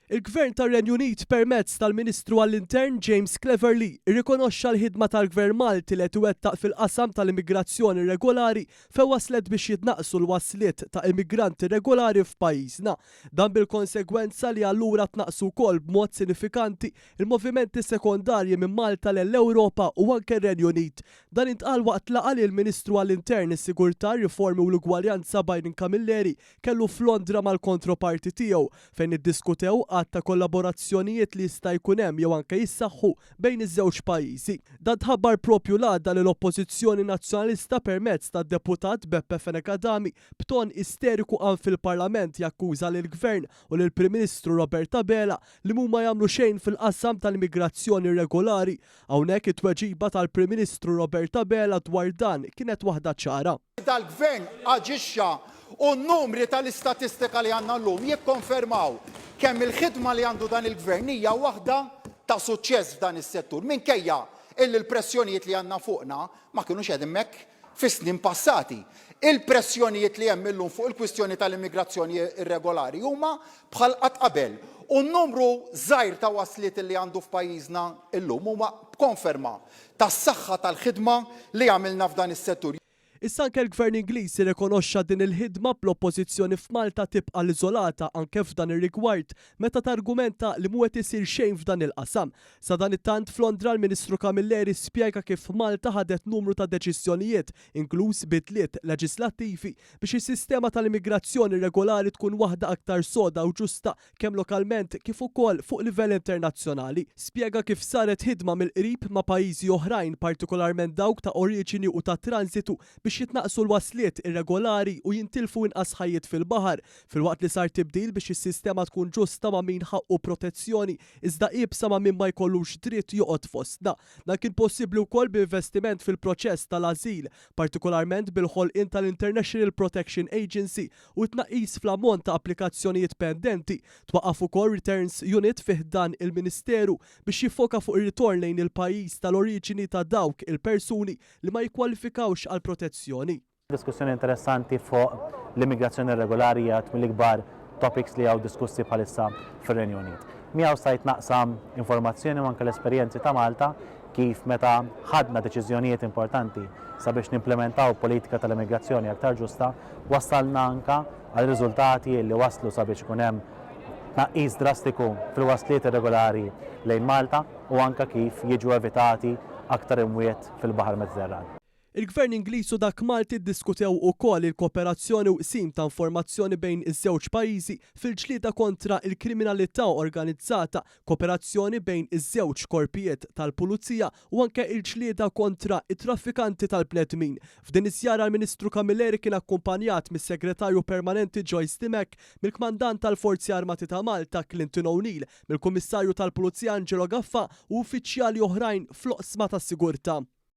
Il-Gvern tar-Renju Unit permezz tal-Ministru għall-Intern James Cleverly rrikonoxxa l-ħidma tal-Gvern Malti li qed iwettaq fil-qasam tal-immigrazzjoni rregolari fejn waslet biex jitnaqqsu l-wasliet ta' immigranti rregolari f'pajjiżna. Dan bil-konsegwenza li allura tnaqqsu wkoll b'mod sinifikanti l-movimenti sekondarji minn Malta lell-Ewropa u anke r-Renju Unit. Dan intqal waqt laqgħa li l-Ministru għall-Intern, is-Sigurtà, r-Riformi u l-Ugwaljanza Byron Camilleri kellu f'Londra mal-kontroparti tiegħu, fejn iddiskutew għadd ta' kollaborazzjonijiet li jista' jkun hemm jew anke jissaħħu bejn iż-żewġ pajjiżi. Dan tħabbar proprju l-għada li l-Oppożizzjoni Nazzjonalista permezz tad-Deputat Beppe Fenech Adami b'ton isteriku qam fil-Parlament jakkuża lill-Gvern u lill-Prim Ministru Robert Abela li mhuma jagħmlu xejn fil-qasam tal-immigrazzjoni irregolari. Hawnhekk it-tweġiba tal-Prim Ministru Robert Abela dwar dan kienet waħda ċara. dal-Gvern aġixxa u n-numri tal-istatistika li għandna llum jikkonfermaw kemm il-ħidma li għandu dan il-Gvern hija waħda ta' suċċess f'dan is-settur minkejja illi l-pressjonijiet li għandna fuqna ma kinux qegħdin hekk fis-snin passati. Il-pressjonijiet li hemm illum fuq il-kwistjoni tal-immigrazzjoni irregolari huma bħal qatt qabel u n-numru żgħir ta' wasliet li għandu f'pajjiżna llum huma b'konferma tas-saħħa tal-ħidma li għamilna f'dan is-settur. Issa anke l-Gvern Ingliż irrikonoxxa din il-ħidma bl-Oppożizzjoni f'Malta tibqa' l-iżolata anke f'dan ir-rigward meta targumenta li mhu qed isir xejn f'dan il-qasam. Sadanittant f'Londra l-Ministru Camilleri spjega kif Malta ħadet numru ta' deċiżjonijiet inkluż bidliet leġislattivi biex is-sistema tal-immigrazzjoni regolari tkun waħda aktar soda u ġusta kemm lokalment kif ukoll fuq livell internazzjonali. Spjega kif saret ħidma mill-qrib ma' pajjiżi oħrajn, partikolarment dawk ta' oriġini u ta' tranżitu biex jitnaqqsu l-wasliet irregolari u jintilfu inqas ħajjiet fil-baħar, filwaqt li sar tibdil biex is-sistema tkun ġusta ma' min ħaqqu protezzjoni iżda iebsa ma' min ma jkollux dritt joqgħod fostna. Dan kien possibbli wkoll b'investiment fil-proċess tal-ażil, partikolarment bil-ħolqien tal-International Protection Agency u t-tnaqqis fl-ammont ta' applikazzjonijiet pendenti, twaqqaf ukoll Returns Unit fi ħdan il-Ministeru biex jiffoka fuq ir-ritorn lejn il-pajjiż tal-oriġini ta' dawk il-persuni li ma jikkwalifikawx għal protezzjoni. Diskussjoni interessanti fuq l-immigrazzjoni irregolari hija għadd mill-ikbar topics li hawn diskussi bħalissa fir-Renju Unit. Miegħu stajt naqsam informazzjoni u anke l-esperjenzi ta' Malta kif meta ħadna deċiżjonijiet importanti sabiex nimplimentaw politika tal-immigrazzjoni aktar ġusta, wassalna anke għal riżultati li wasslu sabiex ikun hemm tnaqqis drastiku fil-wasliet irregolari lejn Malta u anke kif jiġu evitati aktar imwiet fil-Baħar Mediterran. Il-Gvern Ingliż u dak Malti ddiskutew ukoll il-kooperazzjoni u qsim ta' informazzjoni bejn iż-żewġ pajjiżi fil-ġlieda kontra l-kriminalità organizzata, kooperazzjoni bejn iż-żewġ korpijiet tal-pulizija u anke l-ġlieda kontra t-traffikanti tal-bnedmin. F'din iż-żjara l-Ministru Camilleri kien akkumpanjat mis-Segretarju Permanenti Joyce Dimech, mill-Kmandant tal-Forzi Armati ta' Malta Clinton O'Neill, mill-Kummissarju tal-Pulizija Angelo Gaffa u uffiċjali oħrajn fl-oqsma tas-sigurtà.